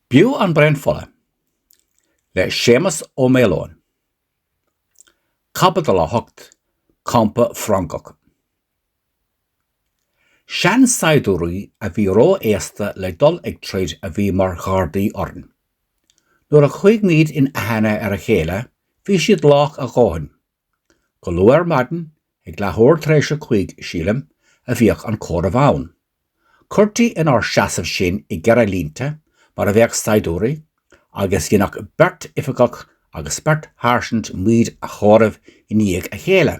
B'fhiú An Braon Fola le Séamus Ó Maoileoin, Caibidil 8, Campa Frongoch. Seansaighdiúirí a bhí ró-aosta le dul ag troid a bhí mar ghardaí orainn. Nuair a chuaigh muid in aithne ar a chéile bhí siad lách a dhóthain Go luath ar maidin, ag leathuair tar éis a cúig, sílim, a bhíodh an comhaireamh ann. Cuirtí inár seasamh sinn i gceithre línte mar a bheadh saighdiúirí agus dhéanadh beirt oifigeach agus beirt sháirsint muid a chomhaireamh i ndiaidh a chéile.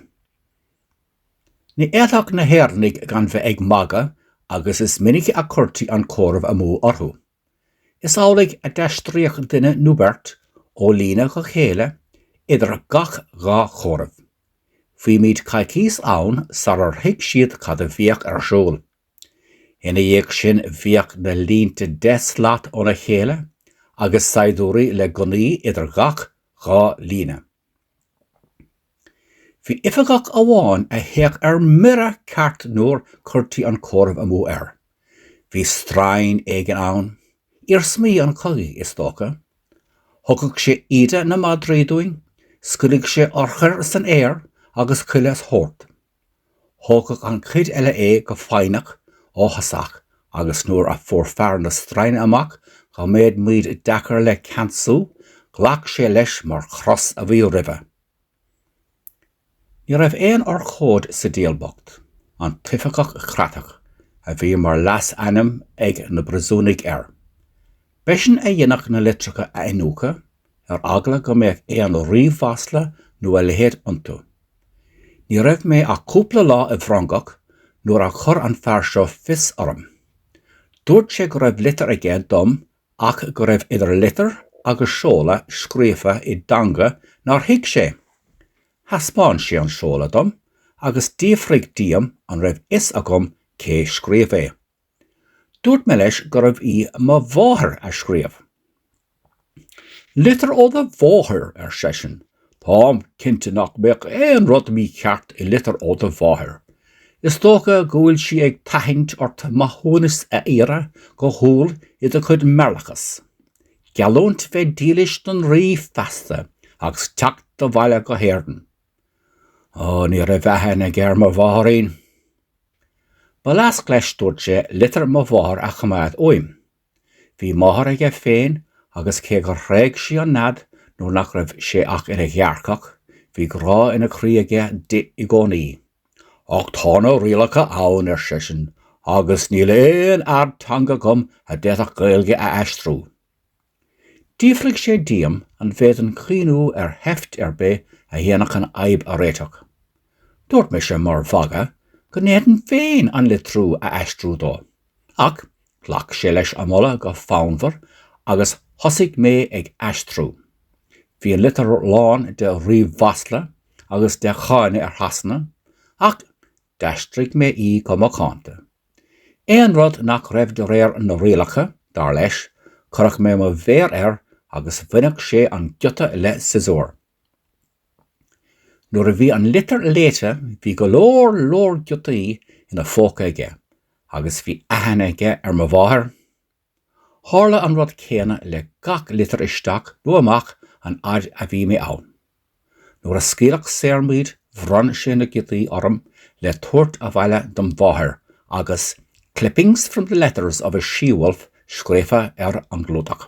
Ní fhéadfadh na hÉireannaigh gan bheith ag magadh agus is minic a cuirtí an comhaireamh amú orthu. Is amhlaidh a d'aistríodh duine nó beirt ó líne go chéile idir gach dhá chomhaireamh. Bhí muid coicís ann sarar thuig siad cad a bhíodh ar siúl. Ina dhiaidh sin bhíodh na línte deich slat óna chéile agus saighdiúirí le gunnaí idir gach dhá líne. Bhí oifigeach amháin a théadh ar mire ceart nuair cuirtí an comhaireamh amú air. Bhí straidhn éigin ann, iarsmaí an chogaidh is dócha. Thugadh sé íde na madraí dúinn, scaoileadh sé urchair san aer agus chuile shórt. Thógadh an chuid eile é go foighneach, áthasach agus nuair a fuair fear na straidhne amach go mbeadh muid deacair le ceansú, ghlac sé leis mar chros a bhí roimhe. Ní raibh aon urchóid sa diabhal bocht, an t-oifigeach creatach a bhí mar leasainm ag na bpríosúnaigh air. B'eisean a dhéanadh na litreacha a iniúchadh, ar eagla go mbeadh aon rímhasla nó a leithéid iontu. Ní raibh mé ach cúpla lá i bhFrongoch nuair a chuir an fear seo fios orm. Dúirt sé go raibh litir aige dom ach go raibh idir litir agus seoladh scríofa i dteanga nár thuig sé. Thaispeáin sé an seoladh dom agus d'fhiafraigh díom an raibh fhios agam cé scríobh é. Dúirt mé leis gurbh í mo mháthair a scríobh. Litir ó do mháthair, ar seisean. Táim cinnte nach mbeadh aon rud mícheart i litir ó do mháthair. Is dócha go bhfuil sí ag tathaint ort maithiúnas a iarraidh go humhal i do chuid meirleachas. Geallúint bheith dílis don Rí feasta agus teacht abhaile go hÉirinn. Ó, ní raibh aithne aige ar mo mháithrín. Ba leasc leis, dúirt sé, litir mo mháthar a choimeád uaim. Bhí máthair aige féin agus cé gur thréig sí an nead nuair nach raibh sé ach ina ghearrcach, bhí grá ina chroí aige di i gcónaí. Ach tá na rialacha ann, ar seisean, agus níl aon fhear teanga agam a d'fhéadfadh Gaeilge a aistriú. D'fhiafraigh sé díom an bhféadfainn cuimhneamh ar sheift ar bith a dhéanfadh an fhadhb a réiteach. Dúirt mise mar mhagadh go ndéanfainn féin an litriú a aistriú dó. Ach ghlac sé leis an moladh go fonnmhar agus thosaigh mé ag aistriú. Bhí an litir lán de rímhasla agus de cháineadh ar Shasana ach D'aistrigh mé í go macánta. Aon rud nach raibh de réir na rialacha, dar leis, chuireadh mé mo mhéar air agus bhaineadh sé an giota le siosúr. Nuair a bhí an litir léite bhí go leor leor giotaí ina phóca aige agus bhí aithne aige ar mo mháthair. Tharla an rud céanna le gach litir isteach nó amach an fhaid a bhí mé ann. Nuair a scaoileadh saor muid bhronn sé na giotaí orm le tabhairt abhaile dom' mháthair agus 'Clippings from the letters of a she-wolf' scríofa ar an gclúdach.